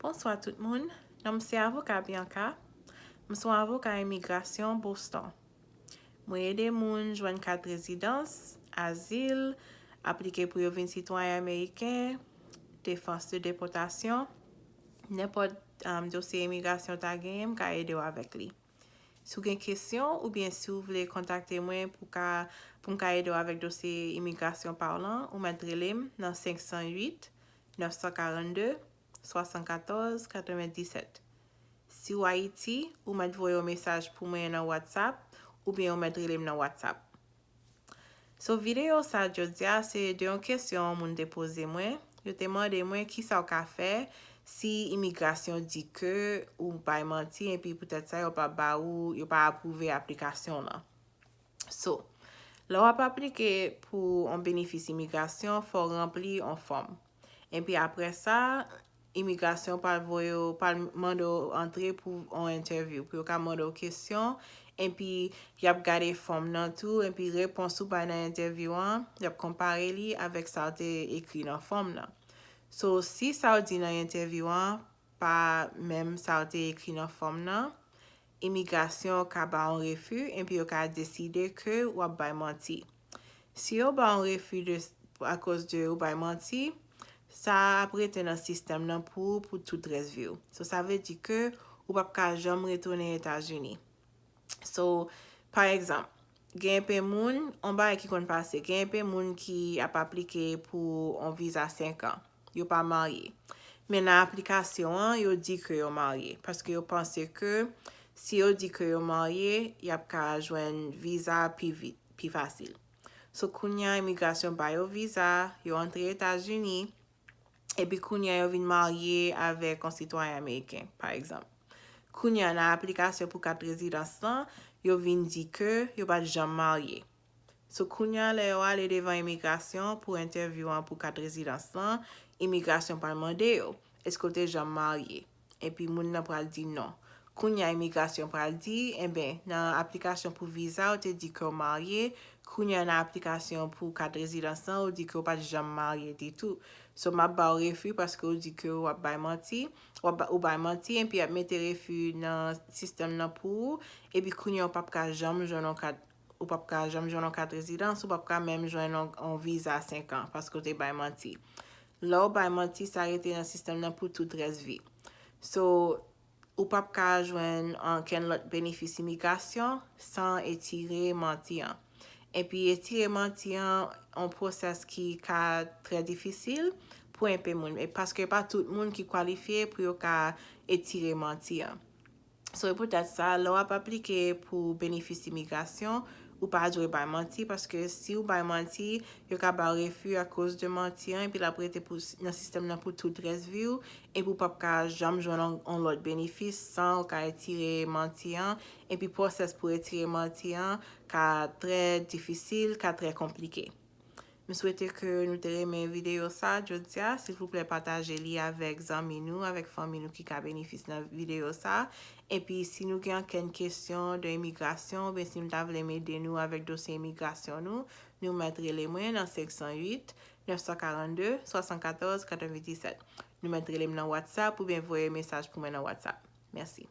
Bonswa tout moun, non m se avoka Bianca, m son avoka imigrasyon Boston. Mwen ede moun jwenn kat rezidans, azil, aplike pou yo vin sitwayen ameriken, defans de depòtasyon, nenpòt dosye imigrasyon ta genyen m ka ede w avèk li. Si w gen kesyon oubyen si w vle kontakte mwen pou ka pou m ka ede w avèk dosye imigrasyon pa w lan, ou mèt rele m nan 508 942 74 97. Si w Ayiti, ou mèt voye yon mesaj pou mwen nan WhatsApp oubyen ou mèt rele m nan WhatsApp. So videyo sa jodia se de yon kesyon moun te poze mwen, yo te mande mwen kisa w ka fè si imigrasyon di ke ou bay manti epi poutèt sa yo pa ba ou yo pa apwouve aplikasyon w lan. So, lè w ap aplike pou yon benefis imigrasyon fò w ranpli yon fòm. Epi aprè sa, imigrasyon pral voye w, pral mande w antre pou yon entèvyou, pou yo ka mande w kesyon, epi y ap gade fòm nan tou, epi repons ou bay nan entèvyou an, y ap konpare li avèk sa w te ekri nan fòm nan. So, si sa w di nan entèvyou an pa menm sa w te ekri nan fòm nan, imigrasyon ka ba w yon refi, epi yo ka deside ke w ap bay manti. Si yo ba w refi de akoz de ou bay manti, sa a ap rete nan sistèm nan pou ou pou tout rès vi w. So sa vle di ke ou pap ka janm retounen Etazini. So, pa egzanp, gen enpe moun, on bagay ki konn pase, gen enpe moun ki ap aplike pou on viza 5 an. yo pa marye. Men nan aplikasyon an, yo di ke yo marye. Paske yo panse ke si yo di ke yo marye, y ap ka jwenn viza pi vit, pi fasil. So kounye a imigrasyon ba yo viza, yo antre Etazini, epi kounye a yo vin marye avèk yon sitwayen ameriken, pa egzanp. Kounye a nan aplikasyon pou kat rezidans lan, yo vin di ke yo pa t janm marye. So kounya lè yo ale devan imigrasyon pou entèvyou an pou kat rezidans lan, imigrasyon pral mande yo, eske w te janm marye? Epi moun nan pral di non. Kounya imigrasyon pral di, enben, nan aplikasyon pou viza ou te di ke w marye, kounya nan aplikasyon pou kat rezidans lan ou di ke w pat janm marye ditou. So map ba w refi paske w di ke w ap bay manti, ou bay manti enpi yap mete refi nan sistèm lan pou ou, epi kounya w pap ka janm jwenn yon kat Ou pap ka janm jwenn yon kat rezidans, ou pap ka menm jwenn yon viza 5 an paske ou te bay manti. Lè ou bay manti sa rete nan sistèm nan pou tout rès vi. So, ou pap ka jwenn ankenn lòt benefis imigrasyon san etire manti an. Epi etire manti an yon pwosès ki ka trè difisil pou enpe moun. Paske e pa tout moun ki kwalifye pou yo ka etire manti an. Se poutèt sa, lè w ap aplike pou benefis imigrasyon, ou pa dwe bay manti, paske si ou bay manti, yo ka ba w refi akoz de manti an epi l ap rete pou nan sistèm nan pou tout rès vi w, epi ou p ap ka janm jwenn yon lòt benefis san ou ka retire manti an, epi pwosès pou retire manti an ka trè difisil, ka trè konplike. M swete ke nou te renmen videyo sa jodia. Silvouplè pataje li avèk zanmi nou, avèk fanmi nou ki ka benefis nan videyo sa. Epi si nou gen ankenn kesyon de imigrasyon oubyen si nou ta vle m ede nou avèk dosye imigrasyon nou, nou mèt rele mwen nan 508 942 74 97. Nou mèt rele m nan whatsapp oubyen voye mesaj pou mwen nan whatsapp. Mèsi.